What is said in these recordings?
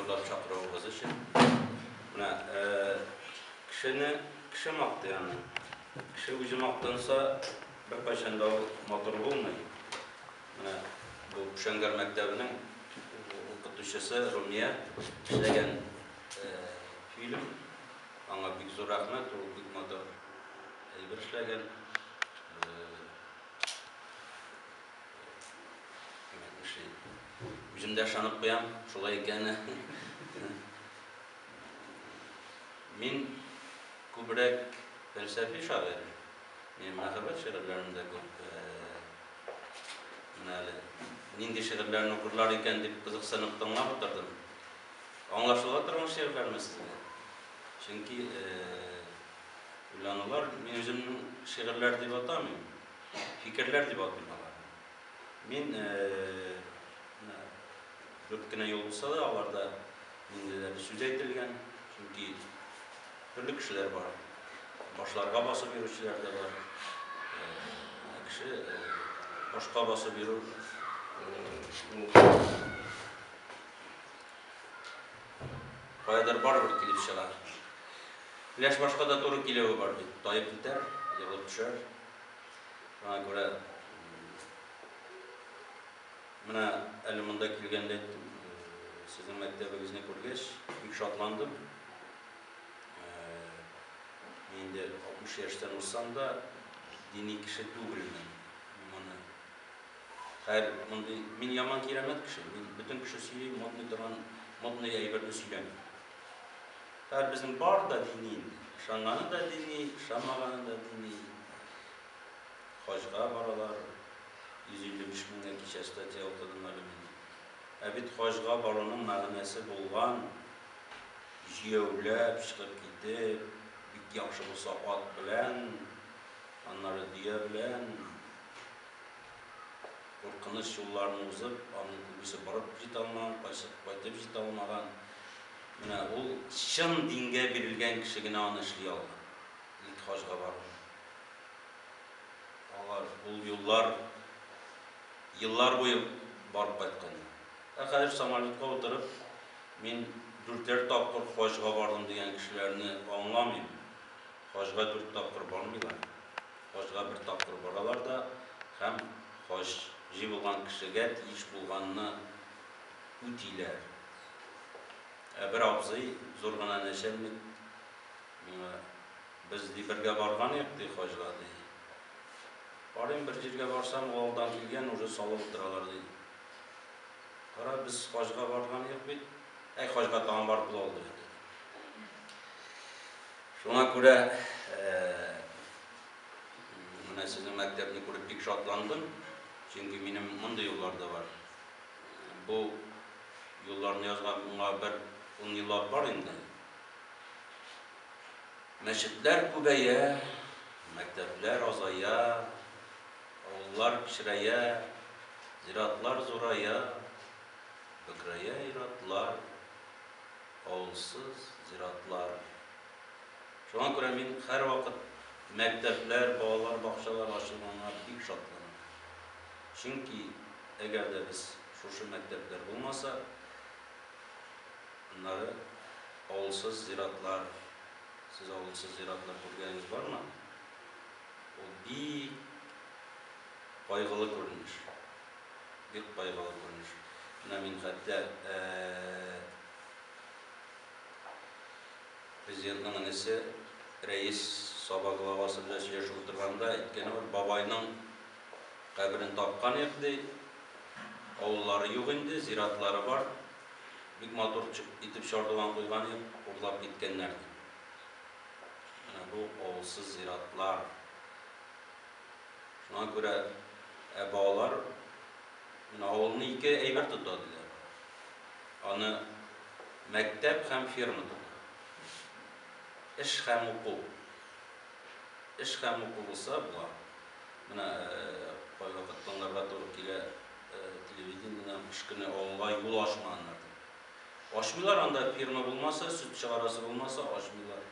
Зурлап чакыруыгыз өчен. Менә кешене кеше мактый аны. Кеше үзе мактанса, беркайчан да ул матур булмый. Менә бу Шәңгәр мәктәбенең укытучысы Румия эшләгән фильм. Аңа бик зур рәхмәт, ул бик матур әйбер эшләгән. Үзем дә ышанып куям, шулай икәне. Мин күбрәк фәлсәфи шагыйрь. Мин мәхәббәт шигырьләрендә күп менә әле нинди шигырьләрне укырлар икән дип кызыксынып тыңлап утырдым. Аңлашыла торган шигырьләрме сезгә? Чөнки уйланулар мин үземнең шигырьләр дип атамыйм. Фикерләр дип атыйм аларны. Мин дүрт кенә юл булса да, аларда ниндидер сүз әйтелгән, чөнки төрле кешеләр бар. Башларга басып йөрүчеләр дә бар. Кеше башка басып йөрү Каядыр барыбер килеп чыгар. Өләш башка да туры киләве бар бит. Таеп китәр, егылып төшәр. Шуңа күрә менә әле монда килгәндә сезнең мәктәбегезне күргәч, бик шатландым. Инде 60 яшьтән узсам да, дини кеше түгелмен. Хәер, мондый, мин яман кирәмәт кеше, мин бөтен кеше сөйли, модный торган модный әйберне сөйләмим. Хәер, безнең бар да дини инде. Ышанганы да дини, ышанмаганы да дини. Хаҗга баралар, 155 меңгә кичә статья укыдым әле мин. Ә бит хаҗга баруның мәгънәсе булган, җияүләп, чыгып китеп, бик яхшы булса ат белән, аннары дөя белән, Куркыныч юлларны узып, аның күбесе барып җитә алмаган, кайсы кайтып җитә алмаган. Менә ул чын дингә бирелгән кеше генә аны эшли алган. Илт хаҗга бару. Алар ул юллар еллар буе барып кайткан. Ә хәзер самолетка утырып, мин дүртәр тапкыр хаҗга бардым дигән кешеләрне аңламыйм. Хаҗга дүрт тапкыр бармыйлар. Хаҗга бер тапкыр баралар да һәм хаҗ җыелган кешегә тиеш булганны үтиләр. Ә бер абзый, зур гына нәчәлник, миңа, Без, ди, бергә барган идек, ди, хаҗга, ди. Карыйм, бер җиргә барсам, ул алдан килгән, уже салып утыралар, ди. Кара, без хаҗга барган идек бит. Әй, хаҗга тагын барып була ул, ди инде. Шуңа күрә менә сезнең мәктәпне күреп бик шатландым, чөнки минем мондый юллар да бар. Бу юлларны язганга бер ун еллар бар инде. Мәчетләр күбәя, мәктәпләр азая, авыллар кечерәя, зиратлар зурая, бөкрәя ир-атлар. Авылсыз зиратлар. Шуңа күрә мин һәрвакыт мәктәпләр, балалар бакчалары ачылганга бик шатланам. Чөнки әгәр дә без шушы мәктәпләр булмаса, аннары авылсыз зиратлар, сез авылсыз зиратлар күргәнегез бармы? Ул бик кайгылы күренеш. Бик кайгылы күренеш. Менә мин хәтта Президентның энесе Рәис Саба главасы белән сөйләшеп утырганда әйткәне бар, бабайның каберен тапканыйк, ди. Авыллары юк инде, зиратлары бар. Бик матур итеп чардуган куйганыйк, урлап киткәннәр, ди. Менә бу авылсыз зиратлар. Шуңа күрә ә балалар менә авылны ике әйбер тота, диләр. Аны мәктәп һәм ферма тота. Эш һәм уку. Эш һәм уку булса, була. Менә кайвакыт тыңларга туры килә телевидениедән, кыш көне авылга юл ачмаганнар, дип. Ачмыйлар, анда ферма булмаса, сөт чыгарасы булмаса, ачмыйлар.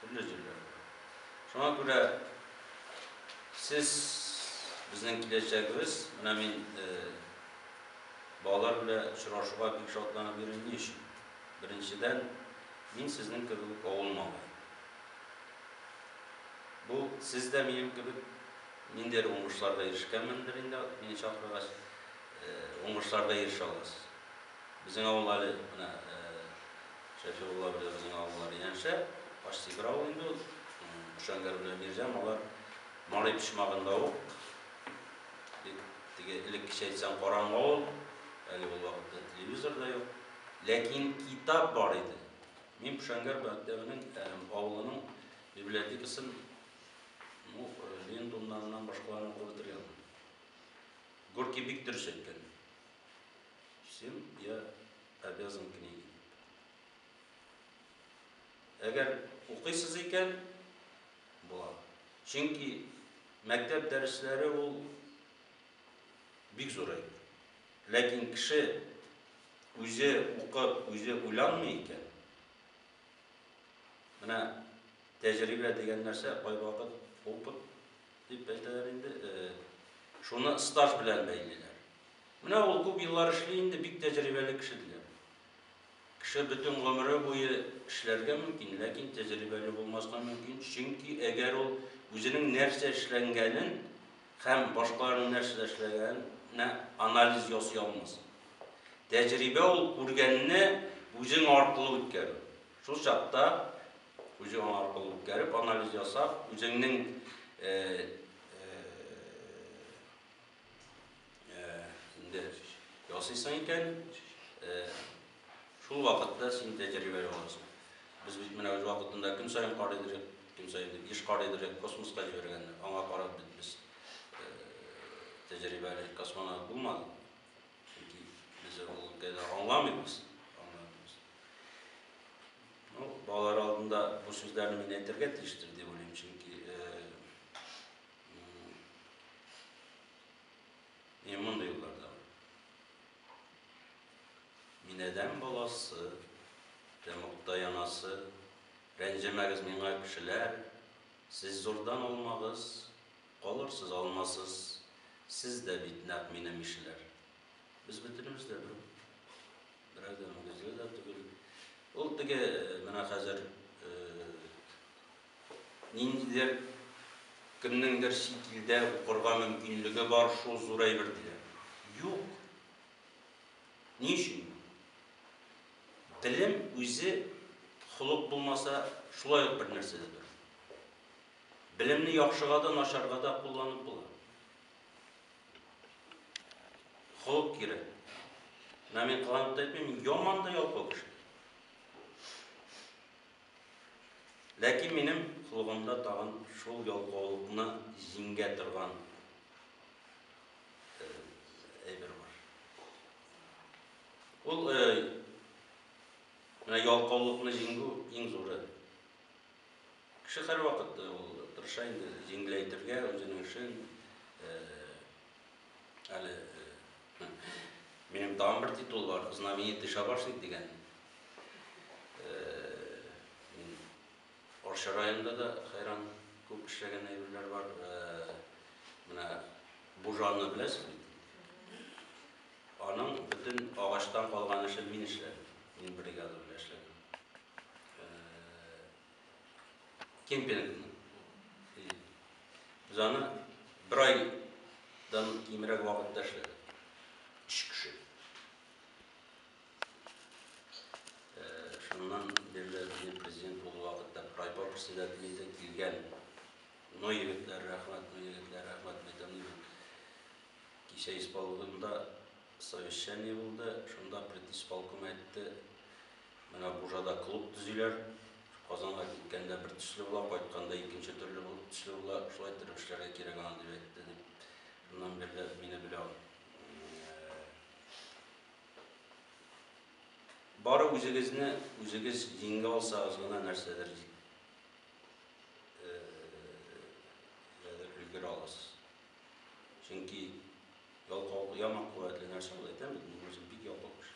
Төрле җирләр бар. Шуңа күрә сез безнең киләчәгебез. Менә мин балалар белән очрашуга бик шатланып йөрим. Ни өчен? Беренчедән, мин сезнең кебек үк авыл малае. Бу сез дә минем кебек ниндидер уңышларга ирешкәнмендер инде, мине чакыргач, уңышларга ирешә аласыз. Безнең авыл әле менә Шәфигулла белән безнең авыллар янәшә. Почти бер авыл инде ул. Шәңгәр белән Мирҗан алар Мари почмагында ук. Бик теге элеккечә әйтсәң караңгы авыл. Әле ул вакытта телевизор да юк. Ләкин китап бар иде. Мин Шәңгәр мәктәбенең, авылының библиотекасын ну, Ленин тумнаннан башкаларын укып бетергән. Горький бик дөрес әйткән. Всем я обязан книги. Әгәр укыйсыз икән, була. Чөнки мәктәп дәресләре ул бик зур әйбер. Ләкин кеше үзе укып, үзе уйланмый икән, менә тәҗрибә дигән нәрсә кайвакыт опыт дип әйтәләр инде, шуны стаж белән бәйлиләр. Менә ул күп еллар эшли инде, бик тәҗрибәле кеше, диләр. Кеше бөтен гомере буе эшләргә мөмкин, ләкин тәҗрибәле булмаска мөмкин, чөнки әгәр ул үзенең нәрсә эшләнгәнен һәм башкаларның нәрсә эшләгәненә анализ ясый алмаса. Тәҗрибә ул күргәнне үзең аркылы үткәрү. Шул чакта үзең аркылы үткәреп, анализ ясап, үзеңнең инде ясыйсың икән, шул вакытта син тәҗрибә аласың. Без бит менә үз вакытында көн саен кар идереп, көн саен дип еш кар идереп космоска җибәргәндә, аңа карап бит без тәҗрибәле космонавт булмадык. Чөнки без ул өлкәдә аңламыйбыз. Ну, балалар алдында бу сүзләрне мин әйтергә тиештер дип уйлыйм, чөнки Мин мондый юлларда. Мин адәм баласы, тәмугта янасы, рәнҗемәгез миңа кешеләр, сез зурдан алмагыз, калырсыз алмасыз, сез дә бит нәкъ минем ишеләр. Без бөтенебез дә бер, берәү дә мөгезле дә түгел. Ул теге менә хәзер Ниндидер кемнеңдер чит илдә укырга мөмкинлеге бар, шул зур әйбер диләр. Юк! Ни өчен? Белем үзе холык булмаса, шулай ук бер нәрсә дә түгел. Белемне яхшыга да, начарга да кулланып була. Холык кирәк. Менә мин кыланып та әйтмим, мин яман да ялкау кеше. Ләкин минем колгымда тагын шул ялкаулыкны җиңгә торган әйбер бар. Ул менә ялкаулыкны җиңү иң зуры. Кеше һәрвакыт ул тырыша инде җиңеләйтергә үзенең эшен, Әле минем тагын бер титул бар, знаменитый шабашник дигән. Мин Орча районында да хайран күп эшләгән әйберләр бар. Менә бужаны беләсез бит. Аның бөтен агачтан калган эшен мин эшләдем. Мин бригада белән эшләдем. Кемпингның. Без аны бер айдан кимрәк вакытта эшләдек. Өч кеше. Шуннан бирле безнең президент булу вакытта райпо председателе иде, килгән. Но егетләр рәхмәт, но егетләр рәхмәт мәйтәм. Кичә исполкомда совещание булды, шунда предисполком әйтте, Менә Бужада клуб төзиләр. Казанга киткәндә бер төсле була, кайтканда икенче төрле булып төсле була. Шулай иттереп эшләргә кирәк аны, дип әйтте, дип. Шуннан бирле мине белә ул. Бары үзегезне үзегез җиңгә алсагыз гына нәрсәдер Чөнки ялкау яма куәтле нәрсә ул әйтәм бит, мин үзем бик ялкау кеше.